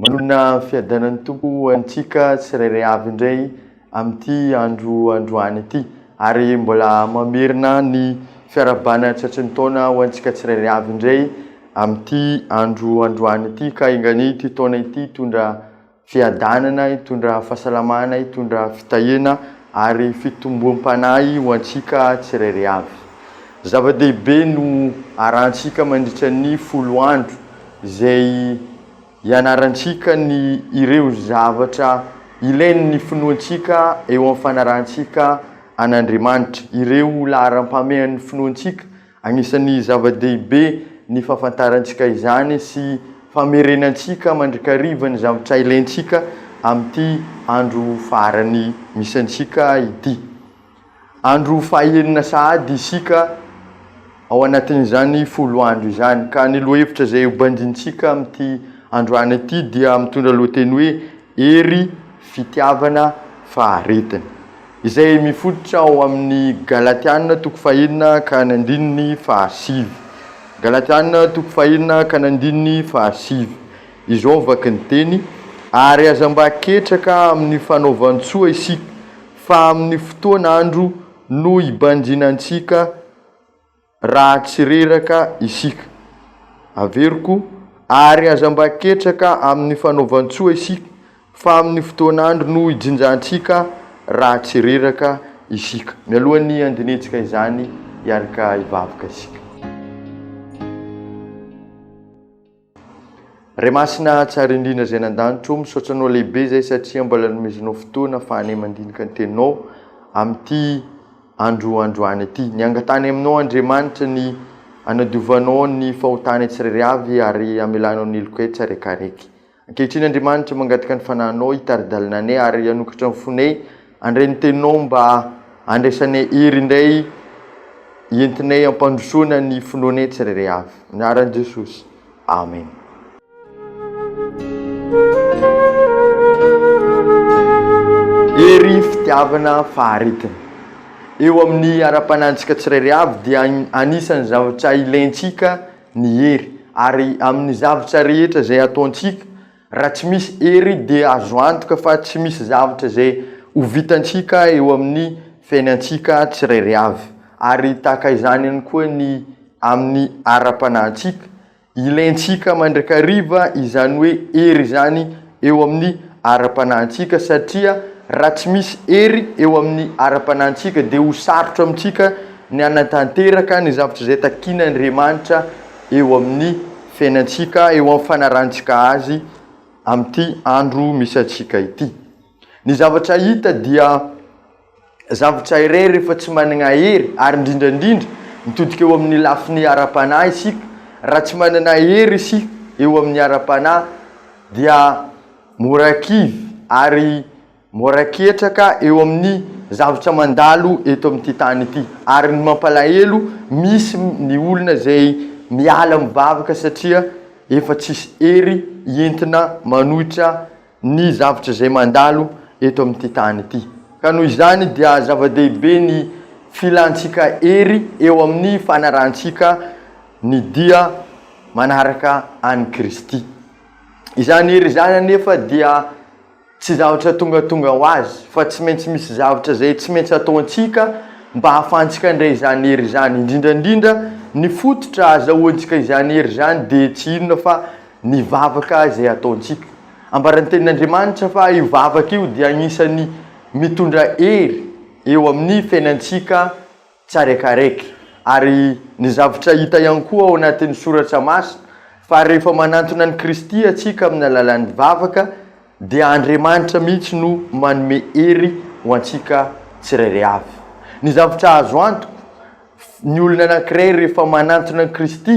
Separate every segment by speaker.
Speaker 1: Manoloana ny fiadanan'ny Tompo ho antsika tsirairay avy indray amin'ity andro androany ity ary mbola mamerina ny fiarahabana tratry ny taona ho antsika tsirairay avy indray amin'ity andro androany ity ka enga anie ity taona ity hitondra fiadanana, hitondra fahasalamana, hitondra fitahiana ary fitomboam-panahy ho antsika tsirairay avy. Zava-dehibe no arahantsika mandritra ny folo andro. izay ianarantsika ny ireo zavatra ilain'ny finoantsika eo amin'ny fanarahantsika an'Andriamanitra, ireo laharam-pahamehan'ny finoantsika, anisan'ny zava-dehibe ny fahafantarantsika izany sy famerenantsika mandrakariva ny zavatra ilaintsika amin'ity andro farany misy antsika ity. Andro fahaenina sahady isika ao anatin'izany folo andro izany, ka ny lohahevitra izay hobanjintsika amin'ity androany ity dia mitondra lohateny hoe Hery, Fitiavana, Faharetana, izay mifototra ao amin'ny Galatiana toko fahenina ka ny andininy fahasivy. Galatiana toko fahenina ka ny andininy fahasivy. Izao vaky ny teny, Ary aza mba ketraka amin'ny fanaovan-tsoa isika, fa amin'ny fotoan andro no hibanjinantsika raha tsy reraka isika. Averiko, Ary aza mba ketraka amin'ny fanaovan-tsoa isika, fa amin'ny fotoan andro no hijinjantsika raha tsy reraka isika. Mialohan'ny handinihitsika izany, hiarka hivavaka isika. Ray Masina tsara indrindra izay any an-danitra o, misaotra anao lehibe izay satria mbola nomezinao fotoana afahanay mandinika ny teninao amin'ity andro androany ity. Ny angatahanay aminao Andriamanitra ny hanadiovanao ny fahotanay tsirairay avy ary hamelanao ny helokay tsaraikaraiky. Ankehitriny Andriamanitra mangataka ny fanahinao hitari-dalana anay ary hanokatra ny fonay Andray ny teninao mba handraisanay hery indray entinay hampandrosoana ny finoanay tsirairay avy. Anaran'i Jesosy. Amen. Hery, fitiavana, faharetana. Eo amin'ny ara-panahintsika tsirairay avy dia anisan'ny zavatra ilaintsika ny hery ary amin'ny zavatra rehetra izay ataontsika Raha tsy misy hery dia azo antoka fa tsy misy zavatra izay ho vitantsika eo amin'ny fiainantsika tsirairay avy. Ary tahaka izany ihany koa ny amin'ny ara-panahintsika. Ilaintsika mandrakariva izany hoe hery izany eo amin'ny ara-panahintsika satria raha tsy misy hery eo amin'ny ara-panahintsika dia ho sarotra amintsika ny hanatanteraka ny zavatra izay takin'Andriamanitra eo amin'ny fiainantsika, eo amin'ny fanarahantsika azy amin'ity andro misy antsika ity. Ny zavatra hita dia zavatra iray rehefa tsy manana hery ary indrindra indrindra mitodika eo amin'ny lafiny ara-panahy isika, raha tsy manana hery isika eo amin'ny ara-panahy dia mora kivy ary Mora ketraka eo amin'ny zavatra mandalo eto amin'ity tany ity. Ary ny mampalahelo, misy ny olona izay miala mivavaka satria efa tsisy hery entina manohitra ny zavatra izay mandalo eto amin'ity tany ity. Ka noho izany dia zava-dehibe ny filantsika hery eo amin'ny fanarahantsika ny dia manaraka an'i Kristy. Izany hery izany anefa dia. Tsy zavatra tongatonga ho azy, fa tsy maintsy misy zavatra izay tsy maintsy ataontsika mba hahafahantsika handray izany hery izany. Indrindra indrindra, ny fototra ahazahoantsika izany hery izany dia tsy inona fa ny vavaka izay ataontsika. Ambaran'ny Tenin'Andriamanitra fa io vavaka io dia anisan'ny mitondra hery eo amin'ny fiainantsika. Tsaraikaraiky. Ary ny zavtra hita ihany koa ao anatin'ny Soratra Masina, fa rehefa manantona an'i Kristy antsika amin'ny alalan'ny vavaka, dia Andriamanitra mihitsy no manome hery ho antsika tsirairay avy. Ny zavtra azo antoka, ny olona anankiray rehefa manantona an'i Kristy,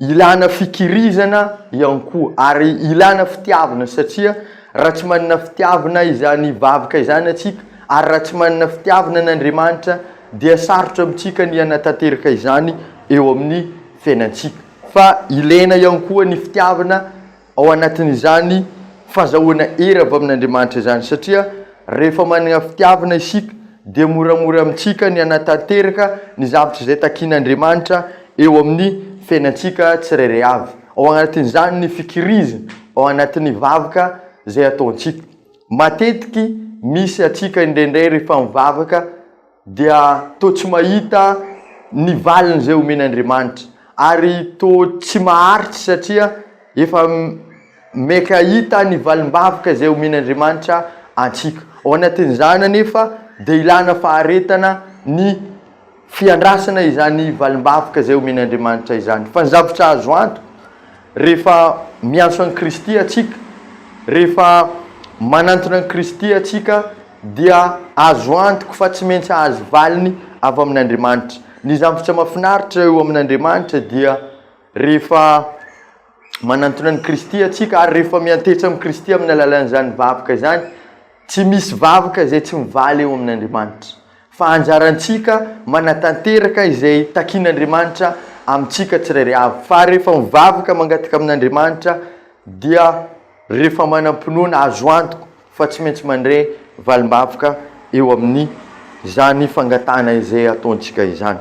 Speaker 1: Ilana fikirizana ihany koa ary ilana fitiavana satria raha tsy manana fitiavana izany vavaka izany antsika ary raha tsy manana fitiavana an' Andriamanitra dia sarotra amintsika ny hanatanteraka izany eo amin'ny fiainantsika fa ilaina ihany koa ny fitiavana ao anatin'izany fazahoana hery avy amin'Andriamanitra izany, satria rehefa manana fitiavana isika dia moramora amintsika ny hanatanteraka ny zavatra izay takian'Andriamanitra eo amin'ny fiainantsika tsirairay avy, ao anatin'izany ny fikirizana ao anatin'ny vavaka izay ataontsika. Matetiky misy antsika indraindray rehefa mivavaka. dia toa tsy mahita ny valiny izay omeny Andriamanitra ary toa tsy maharitra satria efa maika hahita ny valim-bavaka izay omeny Andriamanitra antsika. Ao anatin'izany anefa dia ilana faharetana ny fiandrasana izany valim-bavaka izay omeny Andriamanitra izany. Fa ny zavatra azo antoka, rehefa miantso an'i Kristy atsika, rehefa manantona an'i Kristy atsika, dia azo antoka fa tsy maintsy hahazo valiny avy amin'Andriamanitra. Ny zavatra mahafinaritra eo amin'Andriamanitra dia rehefa manantona an'i Kristy antsika ary rehefa miantehitra amin'i Kristy amin'ny alalan'izany vavaka izany, tsy misy vavaka izay tsy mivaly eo amin'Andriamanitra. Fa anjarantsika manatanteraka izay takin'Andriamanitra amintsika tsirairay avy. Fa rehefa mivavaka mangataka amin'Andriamanitra dia rehefa manam-pinoana azo antoka fa tsy maintsy mandre valimbavaka eo amin'ny izany fangatahana izay ataontsika izany.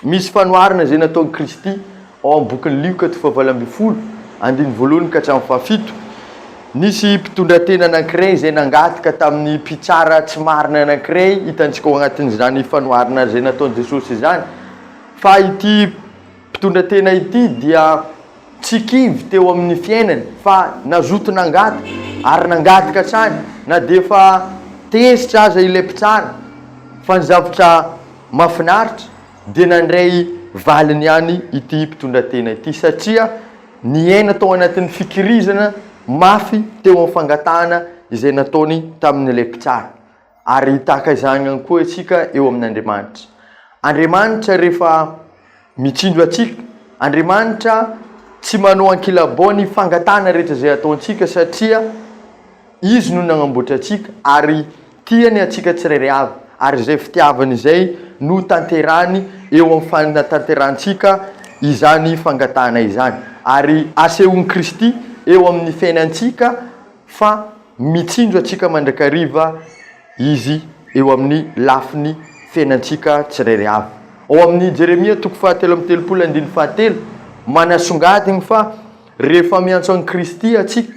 Speaker 1: Misy fanoharana izay nataon'i Kristy ao amin'ny bokin'i Lioka toko fahavalo ambin'ny folo, andininy voalohany ka hatramin'ny fahafito. Nisy mpitondratena anankiray izay nangataka tamin'ny mpitsara tsy marina anankiray, hitantsika ao anatin'izany fanoharana izay nataon'i Jesosy izany, fa ity mpitondratena ity dia. Tsy kivy teo amin'ny fiainany fa nazoto nangataka ary nangataka hatrany na dia efa tezitra aza ilay mpitsara fa ny zavatra mahafinaritra dia nandray valiny ihany ity mpitondra tena ity satria niaina tao anatin'ny fikirizana mafy teo amin'ny fangatahana izay nataony tamin'ilay mpitsara Ary tahaka izany ihany koa isika eo amin'Andriamanitra. Andriamanitra rehefa mitsinjo antsika, Andriamanitra tsy manao ankilabao ny fangatahana rehetra izay ataontsika satria Izy no nanamboatra antsika ary tia ny antsika tsirairay avy ary izay fitiavana izay no tanterahiny eo amin'ny fanatanterahantsika izany fangatahana izany ary asehon'i Kristy eo amin'ny fiainantsika fa mitsinjo antsika mandrakariva Izy eo amin'ny lafiny fiainantsika tsirairay avy. Ao amin'ny Jeremia toko fahatelo amby telopolo andininy fahatelo, manasongadiny fa rehefa miantso an'i Kristy antsika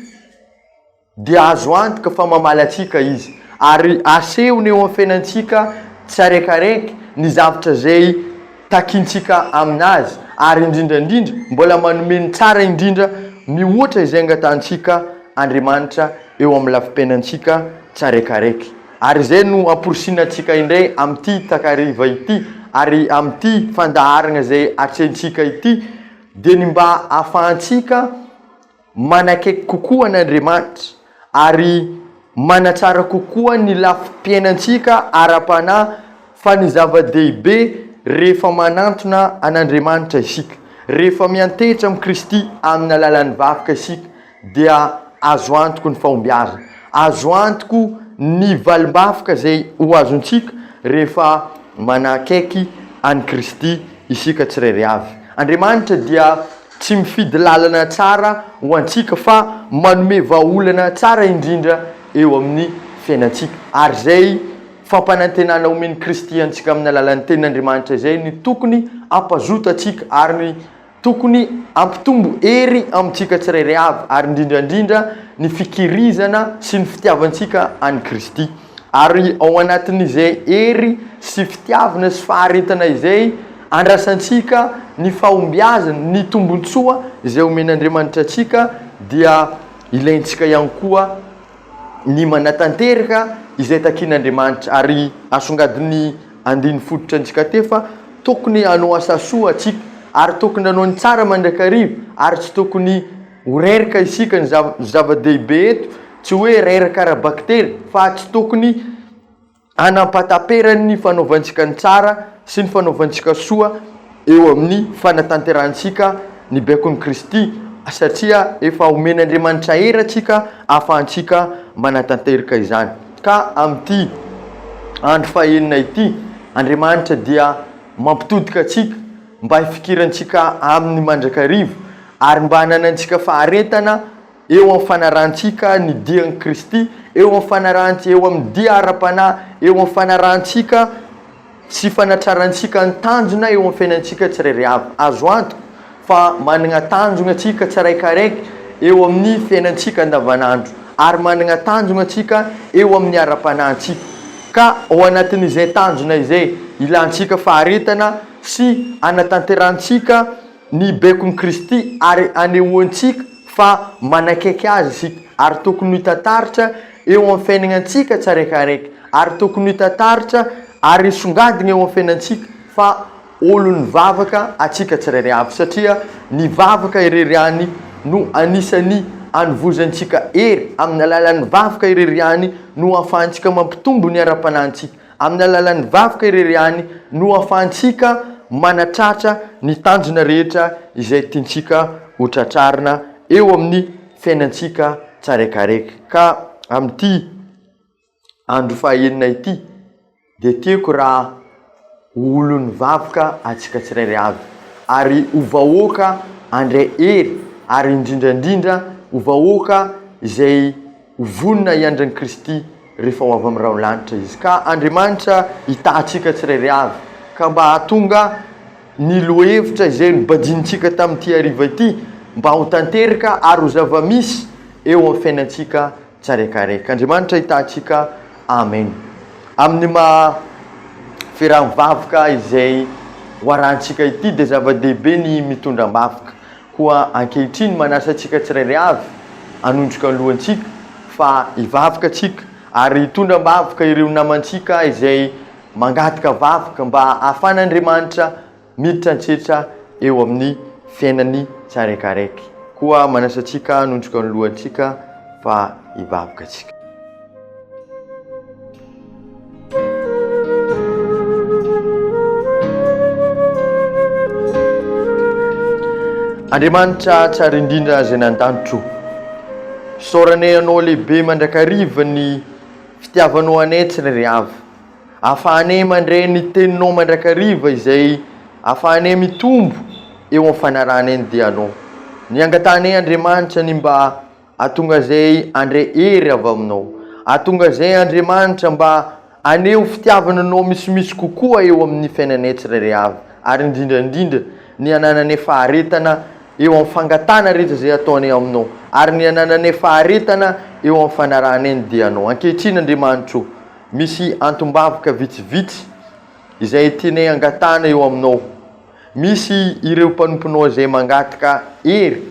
Speaker 1: dia azo antoka fa mamaly antsika Izy, ary asehony eo amin'ny fiainantsika tsiraikaraiky ny zavatra izay takintsika amin'Azy, ary indrindra indrindra mbola manome ny tsara indrindra mihoatra izay angatantsika Andriamanitra eo amin'ny lafim-piainantsika tsiraikaraiky. Ary izay no amporisihina antsika indray amin'ity takariva ity, ary amin'ity fandaharana izay atrehintsika ity, dia ny mba hahafahantsika, manakaiky kokoa an'Andriamanitra ary manatsara kokoa ny lafim-piainantsika ara-panahy fa ny zava-dehibe rehefa manantona an'Andriamanitra isika, rehefa miantehitra amin'i Kristy amin'ny alalan'ny vakoka isika dia azo antoko ny fahombiazana, azo antoko ny valim-bafoka izay ho azontsika rehefa manakaiky an'i Kristy isika tsirairay avy. Andriamanitra dia. Tsy mifidy lalana tsara ho antsika fa manome vahaolana tsara indrindra eo amin'ny fiainantsika. Ary izay fampanantenana omen'i Kristy antsika amin'ny alalan'ny Tenin'Andriamanitra izay no tokony hampazoto antsika ary tokony hampitombo hery amintsika tsirairay avy ary indrindra indrindra ny fikirizana sy ny fitiavantsika an'i Kristy. Ary ao anatin'izay hery sy fitiavana sy faharetana izay, andrasantsika ny fahombiazana, ny tombontsoa izay omen'Andriamanitra antsika, dia ilaintsika ihany koa ny manatanteraka izay takin'Andriamanitra. Ary asongadin'ny andiny fototra antsika teo fa tokony hanao asa soa tsika, ary tokony hanao ny tsara mandrakariva, ary tsy tokony Ho reraka isika ny zava-dehibe eto, tsy hoe reraka ara-bakiteny, fa tsy tokony hanampataperany ny fanaovantsika ny tsara sy ny fanaovantsika soa eo amin'ny fanatanterahantsika ny baikon'i Kristy, satria efa omen'Andriamanitra hery antsika ahafahantsika manatanterka izany. Ka amin'ity andro fahenina ity, Andriamanitra dia mampitodika antsika. mba hifikirantsika aminy mandrakariva, ary mba hananantsika faharetana eo amin'ny fanarahantsika ny dian'i Kristy, eo amin'ny fanarahan-, eo amin'ny dia ara-panahy, eo amin'ny fanarahantsika sy fanatrarantsika ny tanjona eo amin'ny fiainantsika tsirairay avy. Azo antoka fa manana tanjona tsika tsiraikaraiky eo amin'ny fiainantsika andavanandro, ary manana tanjona tsika eo amin'ny ara-panahintsika. Ka ao anatin'izay tanjona izay, ilantsika faharetana, sy anatanterahantsika ny baikon'i Kristy ary anehoantsika fa manakaiky Azy isika ary tokony ho hita taratra eo amin'ny fiaignantsika tsiraikaraiky ary tokony ho hita taratra ary hisongadina eo amin'ny fiainantsika fa olon'ny vavaka atsika tsirairay avy satria ny vavaka irery ihany no anisan'ny anovozantsika hery amin'ny alalan'ny vavaka irery ihany no ahafahantsika mampitombo ny ara-panahintsika Amin'ny alalan'ny vavaka irery ihany no ahafahantsika manatratra ny tanjona rehetra izay tiantsika ho tratrarina eo amin'ny fiainantsika tsaraikaraika. Ka amin'ity andro fahaenina ity dia tiako raha ho olon'ny vavaka antsika tsirairay avy ary ho vahoaka handray hery ary indrindra indrindra ho vahoaka izay Ho vonona hiandry an'i Kristy rehefa ho avy amin'ny rahon'ny lanitra Izy. Ka Andriamanitra hitahantsika tsirairay avy, ka mba hahatonga ny lohahevitra izay nobadintsika tamin'ity hariva ity mba ho tanteraka ary ho zava-misy eo amin'ny fiainantsika tsiraikaraiky. Andriamanitra hitahantsika. Amen. Amin'ny maha firaha-mivavaka izay ho arahantsika ity dia zava-dehibe ny mitondra am-bavaka. Koa ankehitriny manasa antsika tsirairay avy hanondroka ny lohantsika fa hivavaka tsika ary hitondra am-bavaka ireo namantsika izay mangataka vavaka mba hahafan'Andriamanitra miditra an-tsetra eo amin'ny fiainany tsaraikaraiky. Koa manasa antsika hanondroka ny lohantsika fa hivavaka tsika. Andriamanitra tsara indrindra izay nandanitro, isaoranay Anao lehibe mandrakariva ny fitiavanao anay tsy ririavy. Ahafahanay mandray ny Teninao mandrakariva izay ahafahanay mitombo eo amin'ny fanarahanay ny dianao. Ny angatahanay Andriamanitra ny mba Atongazay andre hery avy aminao. Atongazay Andriamanitra mba haneho fitiavana anao misimisy kokoa eo amin'ny fiainanay tsirairay avy, ary indrindra indrindra ny hanananay faharetana eo amin'ny fangatahana rehetra izay ataonay aminao, ary ny hanananay faharetana eo amin'ny fanarahanay ny dianao. Ankehitriny Andriamanitra o, misy antom-bavaka vitsivitsy izay tianay angatahana eo aminao. Misy ireo mpanomponao izay mangataka hery,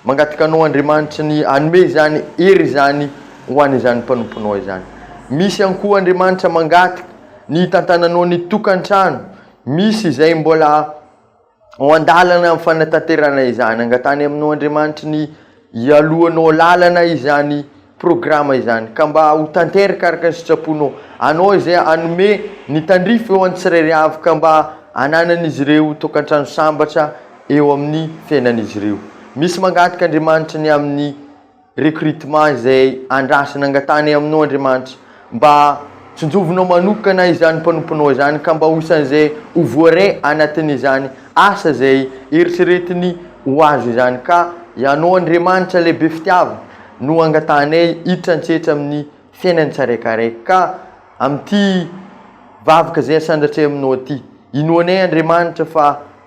Speaker 1: mangataka anao Andriamanitra ny hanome izany hery izany ho an'izany mpanomponao izany. Misy ihany koa Andriamanitra mangataka ny hitantananao ny tokantrano, misy izay mbola ao an-dalana amin'ny fanatanterahana izany, angatahany aminao Andriamanitra ny Ialohanao lalana izany programa izany ka mba ho tanteraka araka ny sitsaponao. Anao izay hanome ny tandrify eo an'ny tsirairy avy ka mba hananan'izy ireo tokantrano sambatra eo amin'ny fiainan'izy ireo. Misy mangataka Andriamanitra ny amin'ny recrutement izay andrasana angatahany aminao Andriamanitra. Mba tsinjovinao manokana izany mpanomponao izany ka mba ho isan'izay ho voaray anatin'izany asa izay eritreretiny ho azy izany ka Ianao Andriamanitra lehibe fitiavana no angatahanay hiditra an-tsetra amin'ny fiainany tsiraikaraiky ka amin'ity vavaka izay asandratra aminao ity. Inoanay Andriamanitra fa